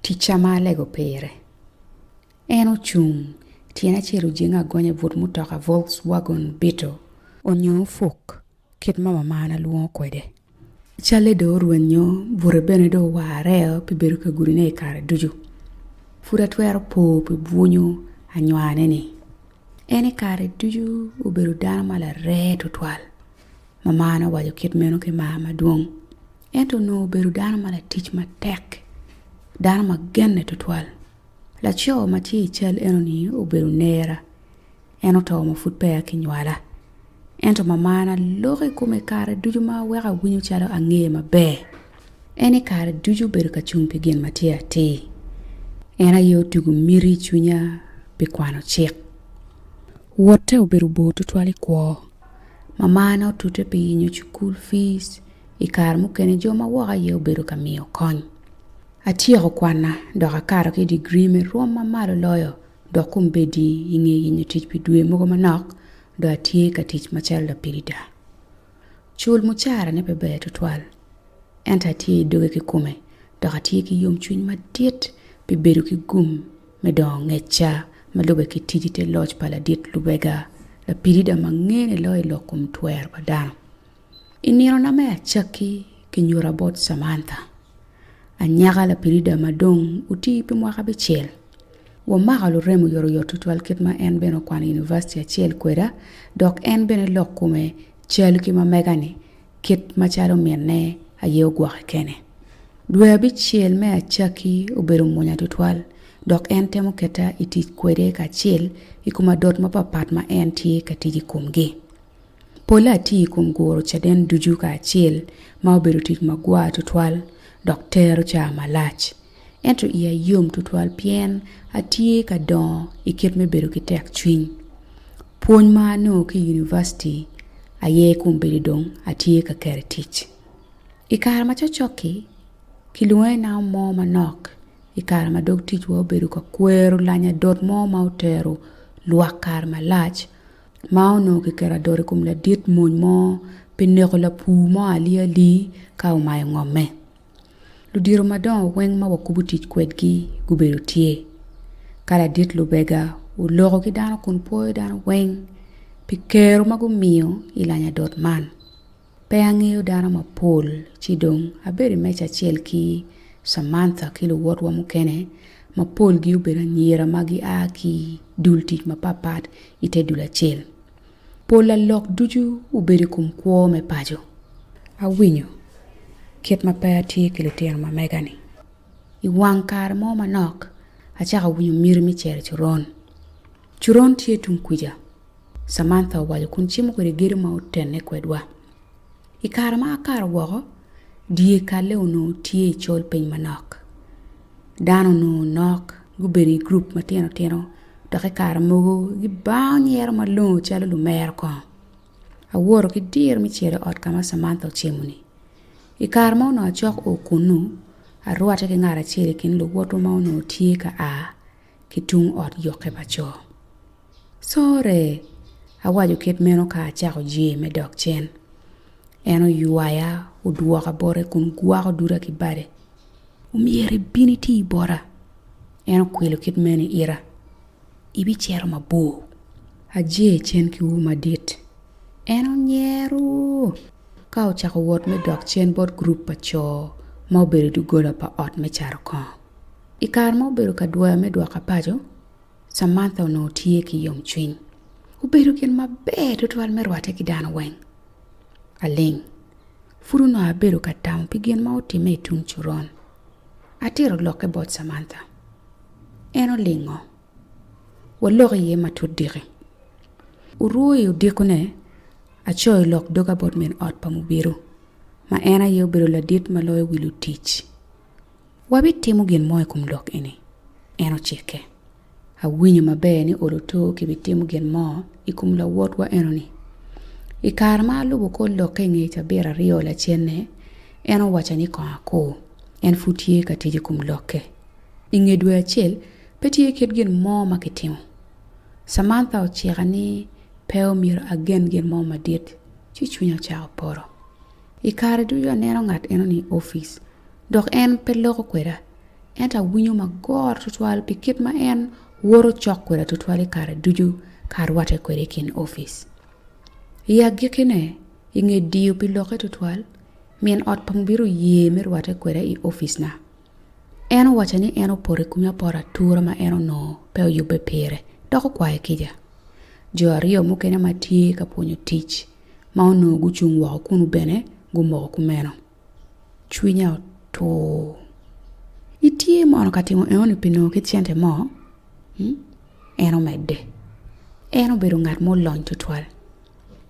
Ticca ma alego pire. En ocung, tyene acel ojenge agonya i but mutoka Volkswagon Beetle. Onyo opuk, kit ma mamana lwongo kwede. Calle dong orwenyo, bute bene dong owareo pi bedo ka gudine i kare ducu. Pud atwero po pi bwunyo anywane-ni. En i kare ducu obedo dano ma larer tutwal. Mama nowaco kit meno ki mar madwong. Ento onongo obedo dano ma latic matek, dano ma genne tutwal. Laco ma tye i cal enoni obedo nera, en oto ma pud peya kinywala. Ento mamana loko i kome kare ducu ma weko awinyo calo angeye maber. En i kare ducu obedo ka cung pi gin ma tye atir. En aye otugo miti i cwinya pi kwano cik. Wotte obedo bor tutwal i kwo. mamane otute pi yenyo cukul fees i kare mukene jo ma woko aye obedo ka miyo kony. Atyeko kwanna dok akato ki i degree me rwom ma malo loyo dok kombeddi i nge yenyo tic pi dwe mogo manok dong atye ka tic macalo lapirida. Cul mucarane pe ber tutwal ento atye i doge kikome dok atye ki yomcwiny madit pi bedo ki gum. me dongo ngecca ma lube ki tic i te loc pa ladit lubega, lapilida ma ngene loyo i lok kom twer pa dano. I ninona me acakki kinyuta bot Samantha, anyaka lapilida ma dong oti pi mwaka abicel. Wamako lurem oyotoyot tutwal kit ma en bene okwano i univaciti acel kweda dok en bene lok kome cal ki ma mega-ni. kit macalo minne aye ogwoke kene. Dwe abicel me acakki obedo munya tutwal, dok en temo keta i tic kwede kacel i kom adot mapatpat ma en tye ka tic i komgi. Polle atiyo i kom guro caden ducu kacel, ma obedo tic magwar tutwal dok tero caa malac. ento iya yom tutwal pien atye ka dongo i kit me bedo ki tekcwiny. Pwony ma anongo ki i univaciti aye kombeddi dong atye ka keto i tic. I kare ma cokcok-ki, kilwongo ni namo mo manok i kare ma dog ticwa obedo ka kwero lanya dot mo ma otero lwak kare malac ma onongo kiketo adot i kom ladit mony mo pi neko lapur mo aliyali ka omayo ngomme. Ludito madongo weng ma wakubu tic kwedgi gubedo tye ka ladit lubega oloko ki dano kun pwoyo dano weng pi kero ma gumiyo i lanya dot man pe angeyo dano mapol ci dong abedo i meja acel ki Samantha ki luwotwa mukene ma polgi obedo anyira ma gia ki dul tic mapat pat ite dul acel Pol a lok ducu obedo i kom kwo me paco. A winyo kit ma pe a tye ki litino ma mega ni. I wang kare mo manok a cako winyo myero me cero coron. Coron tye tung kwica. Samantha owaco kun cimo kwede gedo ma otene kwedwa. I kare ma a kato woko, dye kalle onongo tye i col piny manok. Dano onongo nok gubedo i gurup matino tino dok i kare mogo gibao nyero malongo calo lumero kongo. Awoto ki diro me cito i ot ka ma Cemantha ocemo-ni. I kare ma onongo acok o kunnu, arwatte ki ngat acel i kin luwotwa ma onongo tye ka a. ki tung ot yokke pa co. Corre! awaco kit meno ka acako jee me dok cen. En oywaya odwoka bote kun gwako duda ki bade. Omyero ibin iti bota! En okwilo kit meno i ita. Ibicito mabor! Ajee cen ki ur madit. En onyero! Ka ocako wot me dok cen bot gurup pa co ma obedo i doggola pa ot me cato kongo. I kare ma obedo ka dwoyo me dwoka paco, Samantha onongo tye ki yomcwiny. Obedo gin maber tutwal me rwatte ki dano weng. Aling. Pud onongo abedo ka tamo pi gin ma otimme i tung coron. Atito lokke bot Samantha. En olingo. Waloko iye matut diki. Orwo i odikone, acoyo lok doga bot min ot pa mubido, ma en aye obedo ladit ma loyo wi lutic. Wabitimo gin mo i kom lok eni? En ocikke. Awinyo maber ni olo tur kibitimo gin mo i kom lawotwa enoni. I kare ma alubo kor lokke i nge cabit aryo lacenne, en owacca ni kong akur, en pud tye ka tic i kom lokke. I nge dwe acel, pe tye kit gin mo ma kitimo. Samantha ocika ni pe omyero agen gin mo madit, ci cwinya ocako poto. I kare ducu aneno ngat enoni i opic, Dok en pe loko kweda, ento awinyo magoro tutwal pi kit ma en woto cok kweda tutwal i kare ducu ka arwatte kwede i kin opic. I agikkine, i nge diyo pi lokke tutwal, min ot pa Mubiru oye me rwatte kweda i opicna. En owacca ni en opoto i kome apoto atura ma en onongo pe oyubbe pire dok okwaye kica. Jo aryo mukene ma tye ka pwonyo tic ma onongo gucung woko kunu bene gumoko kumeno. Cwinya otur. Itye mono ka timo enoni pi nongo kit cente mo? en omedde. En obedo ngat ma olony tutwal.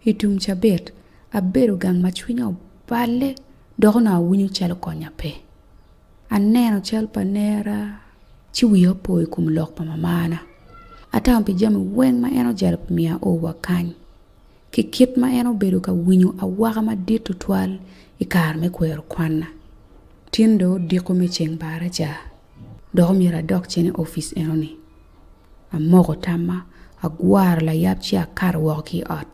I tum cabit, abedo gang ma cwinya oballe dok onongo awinyo calo konya pe. Aneno cal pa nera ci wiya opo i kom lok pa mamana. Atamo pi jami weng ma en ojalo pi miyo aorwa kany. ki kit ma en obedo ka winyo awaka madit tutwal i kare me kwero kwanna. Tin dong odiko me ceng bara ca, dok omyero adok cen i opic enoni. Amoko tamma, agwaro layab ci akato woko ki i ot.